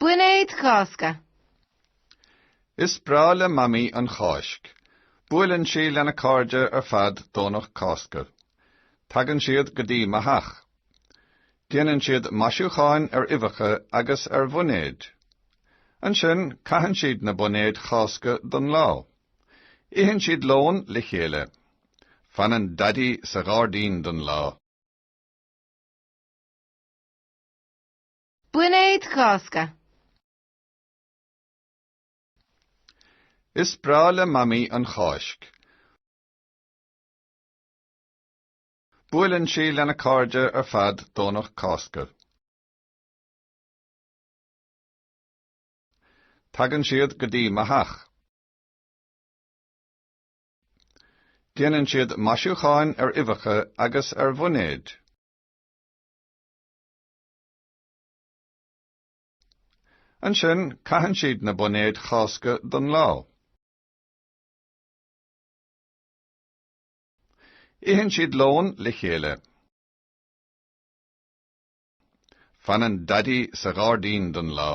Boinéid Chásca. Is breá le Mamaí an Cháisc. Buaileann sí lena cairde ar fad Domhnach Cásca. Tagann siad go dtí mo theach. Déanann siad maisiúcháin ar uibheacha agus ar bhoinéid. Ansin caitheann siad na boinéid Chásca don lá. Itheann siad lón le chéile. Fanann Daidí sa ghairdín don lá. Boinéid Chásca. Is breá le Mamaí an Cháisc. Buaileann sí lena cairde ar fad Domhnach Cásca. Tagann siad go dtí mo theach. Déanann siad maisiúcháin ar uibheacha agus ar bhoinéid. Ansin, caitheann siad na boinéid Chásca don lá. Itheann siad lón le chéile. Fanann Daidí sa ghairdín don lá.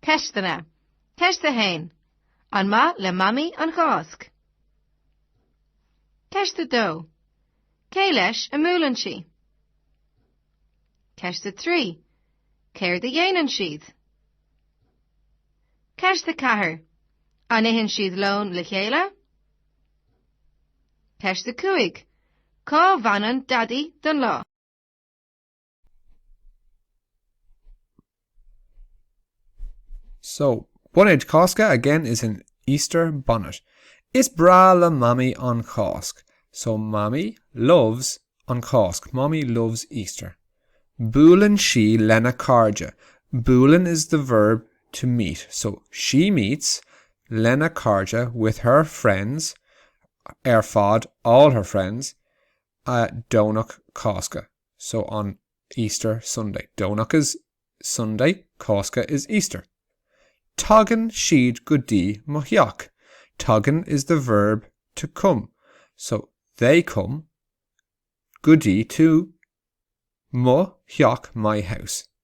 Ceisteanna, Ceist 1. An maith le Mamaí an Cháisc? Ceist 2. Cé leis a mbuaileann sí? Ceist 3. Céard a dhéanann siad? Ceist 4. An itheann siad lón le chéile? Ceist 5. Cá bhfanann Daidí don lá? So, boinéid Chásca again is an Easter bonnet. Is breá le Mamaí an Cháisc. So Mamaí loves an Cháisc. Mamaí loves Easter. Buaileann sí lena cairde. Buaileann is the verb to meet. So she meets lena cairde with her friends ar fad all her friends a Domhnach Cásca. so on Easter Sunday. Domhnach is Sunday Cásca is Easter. Tagann siad go dtí mo theach. Tagann is the verb to come, so they come go dtí to mo theach my house.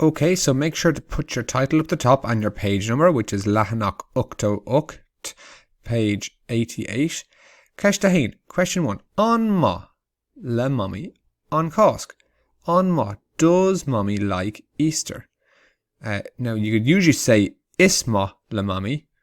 Ok so make sure to put your title up the top and your page number which is leathanach 88 page 88 Ceist 1 Question 1 An maith le Mamaí an Cásc? An maith Does Mommy like Easter? Uh, now you could usually say is maith le Mamaí